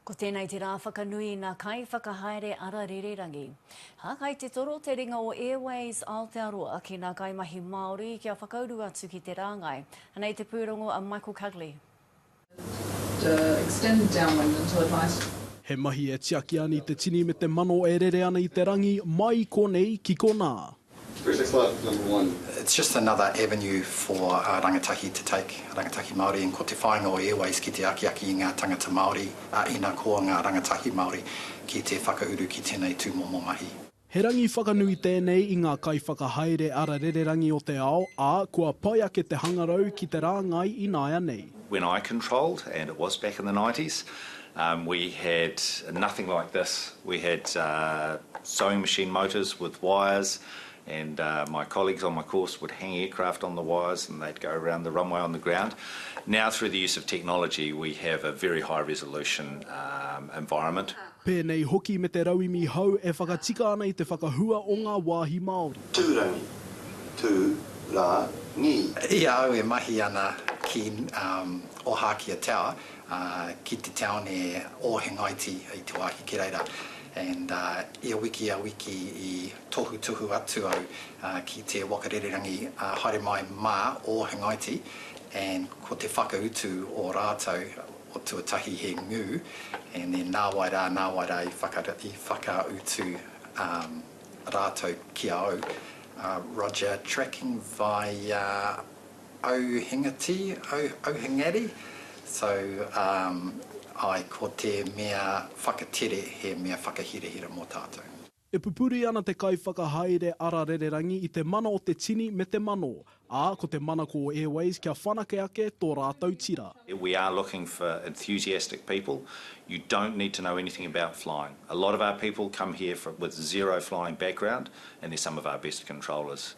Ko tēnei te rā whakanui i ngā kaiwhakahaere ara rīrirangi. Hākai te toro te ringa o Airways Aotearoa ki ngā kaimahi Māori kia whakauru atu ki te rāngai. Anei te pūrongo a Michael Cugley. He mahi e tiaki ani te tini me te mano e rere ana i te rangi, mai i konei ki konā. Where's the club number one? It's just another avenue for rangatahi to take, rangatahi Māori, and ko te whāinga o Airways ki te akiaki i ngā tangata Māori, ā, ina koa ngā rangatahi Māori, ki te whakauru ki tēnei tūmomo mahi. He rangi whakanui tēnei i ngā kaiwhakahaere ara rererangi o te ao, ā, kua pai ake te hangarau ki te rāngai ināianei. When I controlled, and it was back in the nineties, We had nothing like this, we had sewing machine motors with wires and my colleagues on my course would hang aircraft on the wires and they'd go around the runway on the ground. Now through the use of technology we have a very high resolution environment. Pēnei hoki me te rauemi hau e whakatika ana i te whakahua o ngā wāhi Māori. Tūrangi, tū, ra, ngi. I a au e mahi ana ki Ohākia Tower, ki te taone o Hengaiti i te wāhi Keraira and ia wiki ia wiki i tohu tuhu atu au ki te waka rererangi haere mai mā o Hengaiti and ko te whakautu o rātou o tuatahi he ngū and then nāwai rā nāwai rā i whakautu rātou ki a au Roger tracking via Auhingati, Auhingari, so um ae ko te mea whakatere he mea whakahirahira mo tatou. E pupuri ana te Kaiwhakahaere Ara Rererangi i te mana o te tini me te mano, ā, ko te mana ko Airways kia whanake ake tō rātou tira. We are looking for enthusiastic people, you don't need to know anything about flying. A lot of our people come here with zero flying background and they're some of our best controllers.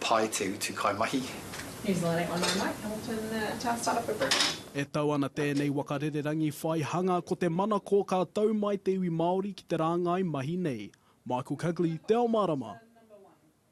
Pai te utu kaimahi. New Zealand Eight One Nine Mike Hamilton Town Startup of Britain. E tau ana tēnei waka rererangi whai hanga ko te manako ka tau mai te iwi Māori ki te rāngai mahi nei. Michael Cugley, Te Ao Mārama.